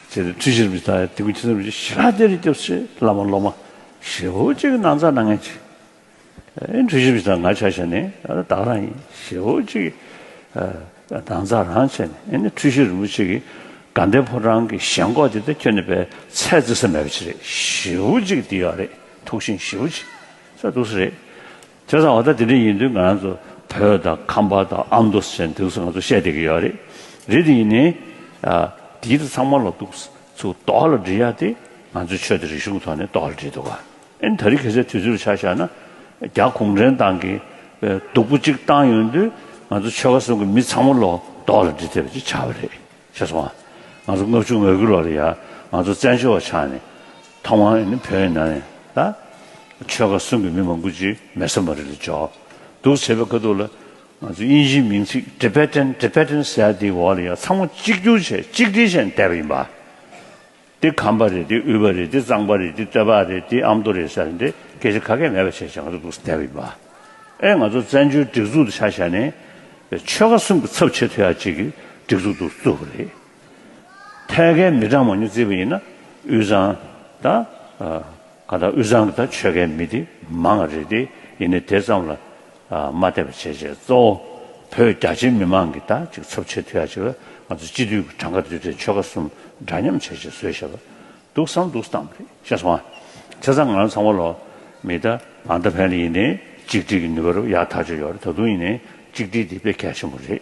ཚེ་འདི་ཁྲི་ཕྱིར་མི་ཐ་ཡ་ཏི་ཀུ་ཁྱི་ཚེ་མི་ཆེ་ཤི་ལ་དེར་སྐྱོབས་ཚེ་བླ་མ་སློབ་མ་ཞེ་བོ་གཅིག་གི་ན་ཚ་ན་ངན་ཅི་ཨེ་འཁྲུ་ཤི་མི་ཐ་ང་ཆ་ཤ་ནི་བདག་རང་ཡིན་ཞེ་བོ་གཅིག་གི་ན་ཚ་རང་ཆེ་ནི་ཨེ་འཁྲུ་ཤི་རིན་པོ་ཆེ་གི་དགའ་ལྡན་ཕོ་བྲང་གི་ཞེན་ཁོག་དེ་དེ་ཁྱོད་ནི་བའི་ཚད་བརྩི་ས་མེད་པ་ཅི་རེད་ཞེ་བོ་གཅིག་གི་འདི་ཡག་རེད་ཐུགས་ཤིང་ཞེ་བོ་གཅིག་ས་དུག་ས་རེད་བྱས་ཙང་བ་ད་དེ་འདྲ་ཡིན་དུས་ང་རང་ཚོ་བོད་དང་ཁམས་པ་དང་ཨ་མདོ་ཞེས་འདུག་ས་ང་ཚོ་བཤད་བསྡད་ཀྱི་ཡོད་རེད། རེད་དེ་ཡིན་ནའི། དེའི་རིགས་ཚང་མ་ལ་འདུག་ས་ཚུ་དོག་ལ་འདྲི་ཡ་དེ་ང་ཚོའི་ཆོས་དང་རིག་གཞུང་ཐོག་ནས་དོག་ལ་འདྲི་འདུག་ཨ་ནི་ད་རིག་གེ་སའི་དུས་ཚོད་རུ་ཆ་བཞག་ན། རྒྱ་གུང་ཁྲན་ཏང་གིས་སྡུག་པོ་གཅིག་བཏང་ཡོང་དུས་ང་ཚོ་ཆོལ་ཁ་གསུམ་གྱི་མི་ཚང་མ་ལ་དོག་ལ་འདྲི་ཐེབས་པ་ཅིག་ཆགས་པ་རེད། ཁྱེད་སོང་ང་ང་ཚོ་སྔོན་བྱུང་མོས་གུས་ལོག་རེད་ཡ་ང་ཚོ་བཙན་བྱོལ་བ་ཆགས་ནས་ཐོག་མ་ནི་བོད་ཡིན་ན་ནས་ད་ཆོལ་ཁ་གསུམ་གྱི་མི་མང་ཀུན་ཅིག་མེ་ཟོན་པ་རེད་ལ་འཇོག་འདུག་བྱེད་པའི་ཁ་ཐུག་ལ་ང་ཚོ་དབྱིན་ཇིའི་མིང་ཚིག Tibetan Tibetan ཟེར་ཡ་དེའི་འོག་ལ་ཡ་ཚང་མ་གཅིག་གྱུར་བྱས་གཅིག་སྒྲིལ་བྱས་ནས་བསྡད་པ་ཡིན་པ། འདི་ཁམས་པ་རེད་འདི་དབུས་པ་རེད་འདི་གཙང་པ་རེད་འདི་སྟོད་པ་རེད་འདི་ཨ་མདོ་རེད་ཟེར་ནས་དེ་སྐད་ཆ་ཁ་སྐད་མེད་པ་བྱས་བྱས་ང་ཚོ་འདུག་སྡད་པ་ཡིན་པ། ཨེ་ང་ཚོ་བཙན་བྱོལ་སྒྲིག་འཛུགས་དུ་ཆགས་བྱས་ནས་ཆོལ་ཁ་གསུམ་གྱི་ཚབ་བྱེད་ཐུབ་ཡག་ཅིག་གི་སྒྲིག་འཛུགས་འདུག་བཙུགས་པ་རེད། ཐད་ཀའི་མི་གྲངས་མང་ཉུང་བརྩིས་པ་ཡིན་ན་དབུས་གཙང་དང། གང་ལྟར་དབུས་གཙང་གི་དང་ཆོལ་ཁའི་མི་དེ་མང་ང་རེད་དེ་ཡིན་ནི་དེ་ཙམ་ལ་མ་བལྟས་པར་བྱས་བྱས་གཙོ་བོ་བོད་རྒྱ་ཆེའི་མི་མང་གི་དང་ཅིག་ཚོབ་བྱེད་ཐུ་ཡ་ཅིག་ལ་ང་ཚོ་སྤྱི་འཐུས་ཀྱི་གྲངས་ཀ་བསྡུས་ཏེ་ཆོལ་ཁ་གསུམ་འདྲ་མཉམ་བྱས་བྱས་བཟོས་བྱས་པ་འདུག་བསམ་འདུག་བསམ་རེད་བཤད་སོང་ང་ཚེ་ཚང་ང་རང་ཚང་མ་ལོ་མི་ད་ང་ད་ཕན་ལ་ཡིན་ནི་གཅིག་སྒྲིལ་གྱི་ནུས་པ་རུ་ཡག་ཐག་ཆོད་ཡོད་རེད་ད་དུང་ཡིན་ནི་གཅིག་སྒྲིལ་དེ་དཔེ་གལ་ཆེན་པོ་རེད།